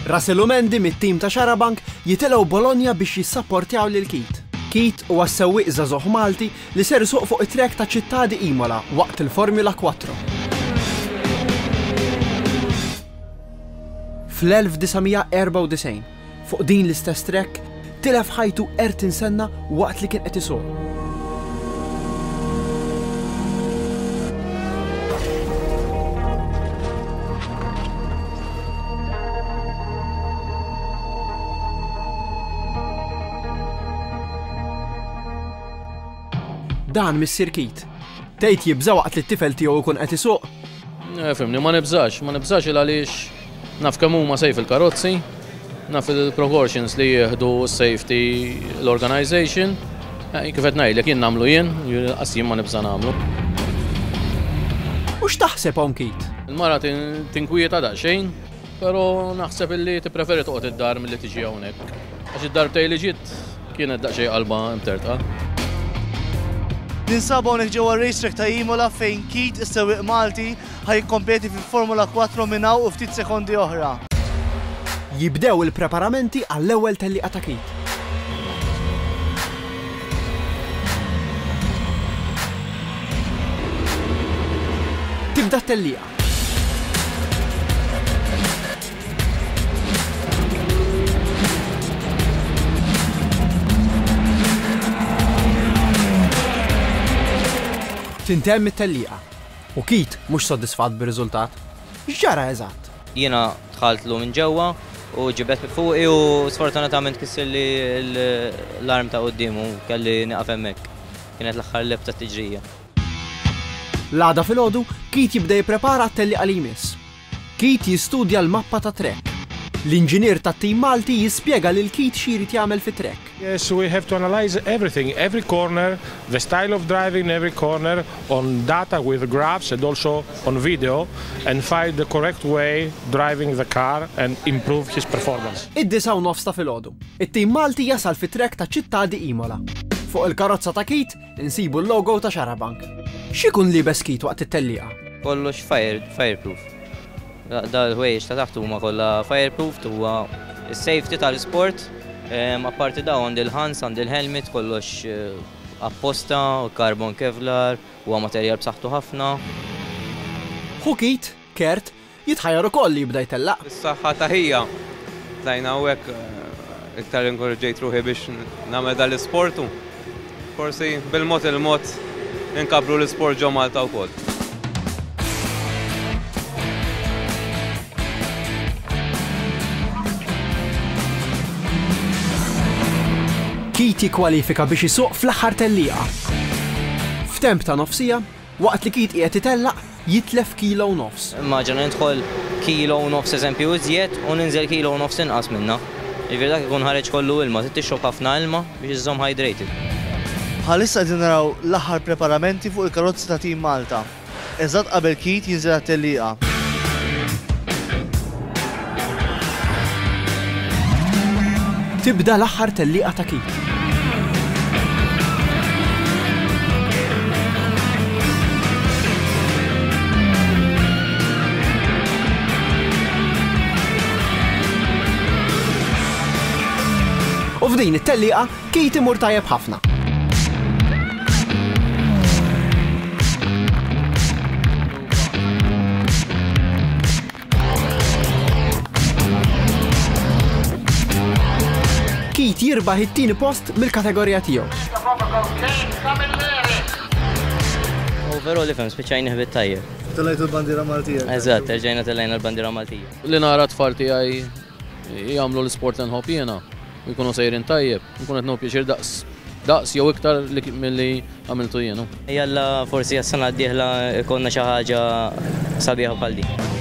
Rasilumendi mit-tim ta' Xarabank jitilgħu Bologna biex jissapportjaw lil Keat. Keat huwa s-sewwieq żagħżugħ Malti li ser isuq fuq it-track ta' Città di Imola waqt il-Formula Quattro. Fl-1994, Fuq din l-istess track, tilef ħajtu Ayrton Senna waqt li kien qed isuq. dan mis-sirkit. Tgħid jibża' waqt li t-tifel tiegħu jkun qed isuq? Eh, fimni, ma nibżax, ma nibżax il għaliex Naf kemm huma safe il-karozzi, naf il-precautions li jieħdu s-safety l-organization. Eh, kif qed ngħidlek jien nagħmlu jien, qas jien ma nibża' nagħmlu. U x'taħseb hawn kit? Il-mara tinkwieta daqsxejn, però naħseb illi tippreferi toqgħod id-dar milli tiġi hawnhekk. Għax id-darbtej li ġiet kienet daqsxejn qalba imtertqa. Ninsabu hawnhekk ġewwa racetrack ta' Imola fejn Kit is-sewwieq Malti ħa jikkompeti fil-Formula Quattro minn hawn u ftit sekondi oħra. Jibdew il-preparamenti għall-ewwel tellieqa ta' kit. Tibda t-tellieqa. Tintemm it-tellieqa. U Keith mhux soddisfatt bir-riżultat, X'ġara eżatt? Jiena dħaltlu minn ġewwa u ġibed minn fuqi u sfortunatament kissirli l-arm ta' quddiem u kelli nieqaf hemmhekk. Kienet l-aħħar lep tat-tiġrija. L-għada filgħodu, Keith jibda jipprepara għat-tellieqa li jmiss. Keith jistudja l-mappa ta' trek. L-inġinier tat-tim Malti jispjega lil Keith xi jrid jagħmel fi trek. Yes, we have to analyze everything, every corner, the style of driving in every corner on data with graphs and also on video and find the correct way driving the car and improve his performance. Id-disgħa u nofs ta' filgħodu. It-tim Malti jasal fi trek ta' Città di Imola. Fuq il-karozza ta' Keith, Insibu l-logo ta' Xarabank. X'ikun liebes Keith waqt it-tellieqa? Kollox fire, fireproof. Dawn il-ħwejjeġ ta' taħt huma kollha fireproof, huwa s-safety tal-isport. Apparti dawn għandi l-ħans, għandi l-helmet, kollox apposta, carbon kevlar, huwa materjal b'saħħtu ħafna. Ħu Keith, Kurt, Jitħajjar ukoll li jibda jtellaq. Is-saħħa ta' ħija. Tlajna hawnhekk iktar inkoraġġejt ruħi biex nagħmel dan l-isport u forsi bil-mod il-mod inkabbru l-isport ġo Malta wkoll. Keith jikkwalifika biex isuq fl-aħħar tellieqa. F'temp ta' nofsija, Waqt li kid qiegħed itellaq, jitlef kilo u nofs. Immaġina nidħol kilo u nofs eżempju iżjed u ninżel kilo u nofs inqas minnha. Jiġifieri dak ikun ħareġ kollu ilma, trid tixrob ħafna ilma biex iżżomm hydrated. Bħalissa qegħdin naraw l-aħħar preparamenti fuq il-karozzi ta' Team Malta, eżatt qabel kid jinżel għat-tellieqa. Tibda l-aħħar tellieqa ta' Keith. U f'din it-tellieqa, Keith imur tajjeb ħafna. Keith jirbaħ it-tieni post mill-kategorija tiegħu. Overall ifhem spiċċajni ħbit tajjeb. Telajtu l-bandira Maltija. Eżatt, terġajna telajna l-bandira Maltija. Li nara tfal tiegħi Jagħmlu l-isport li nħobb jiena u jkunu sejrin tajjeb. Inkun qed nieħu pjaċir daqs daqs jew iktar milli għamiltu jien. Jalla forsi għas-sena d-dieħla jkollna xi ħaġa sabiħa bħal din.